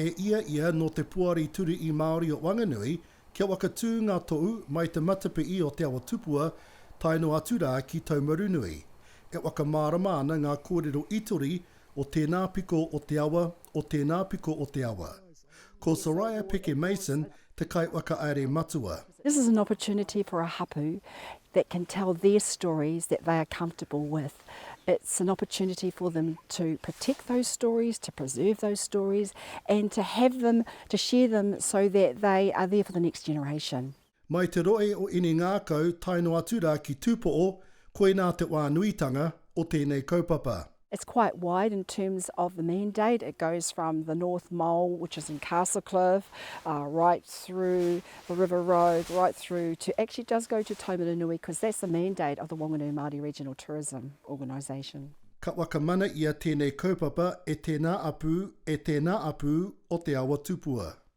E ia ia nō te Poari Turii Māori o Wanganui, kia waka tū ngā tohu mai te matapii o Te Awa Tupua tae noa atu rā ki Taumarunui. E waka mārama ana ngā kōrero itori O tēnā piko o te awa, o tēnā piko o te awa. Ko Soraya Peke Mason te kaiwhakahaere matua. This is an opportunity for a hapu that can tell their stories that they are comfortable with. It's an opportunity for them to protect those stories, to preserve those stories and to have them, to share them so that they are there for the next generation. Mai te rohe o Inengākau tae noa atu rā ki Tūpoʻo, koinā te wā nuitanga o tēnei kaupapa. It's quite wide in terms of the mandate, it goes from the North Mole which is in Castlecliff right through the River Road right through to, actually it does go to Taumarunui because that's the mandate of the Whanganui Māori Regional Tourism Organisation. Ka whakamana ia tēnei kaupapa e tēnā apū, e tēnā apū o Te Awa Tupua.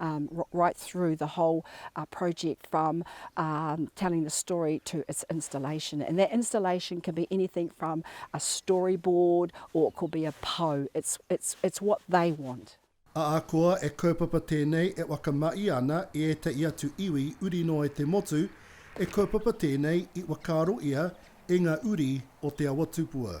Um, right through the whole uh, project from um, telling the story to its installation. And that installation can be anything from a storyboard or it could be a po. It's, it's, it's what they want. Ahakoa e kaupapa tēnei e whakamahi ana i ētahi atu iwi uri noa i te motu, e kaupapa tēnei i whakaaro ia e ngā uri o Te Awatupua.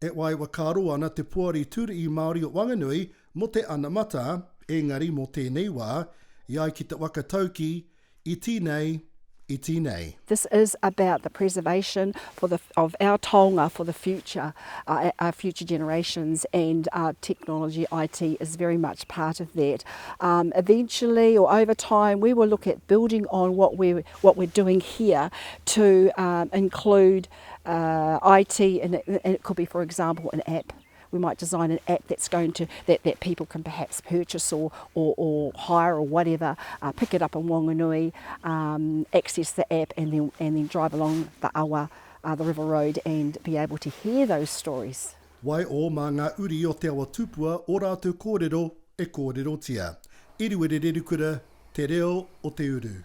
E waiwhakaaro ana te Poari Tūri'i Māori o Wanganui mō te anamata, engari mō tēnei wā, i ai ki te waka tauki, iti nei, iti nei. This is about the preservation for the of our taonga for the future, our future generations and technology, IT is very much part of that. Eventually or over time we will look at building on what we're what we're doing here to include uh, IT, and it, and it could be, for example, an app. We might design an app that's going to that, that people can perhaps purchase or or, or hire or whatever, uh, pick it up in Whanganui, um, access the app, and then and then drive along the awa, uh, the river road, and be able to hear those stories. Wai o mā ngā uri o Te Awa Tupua ō rātou kōrero e kōrerotia. Eruere Rerukura, Te Reo o Te Uru.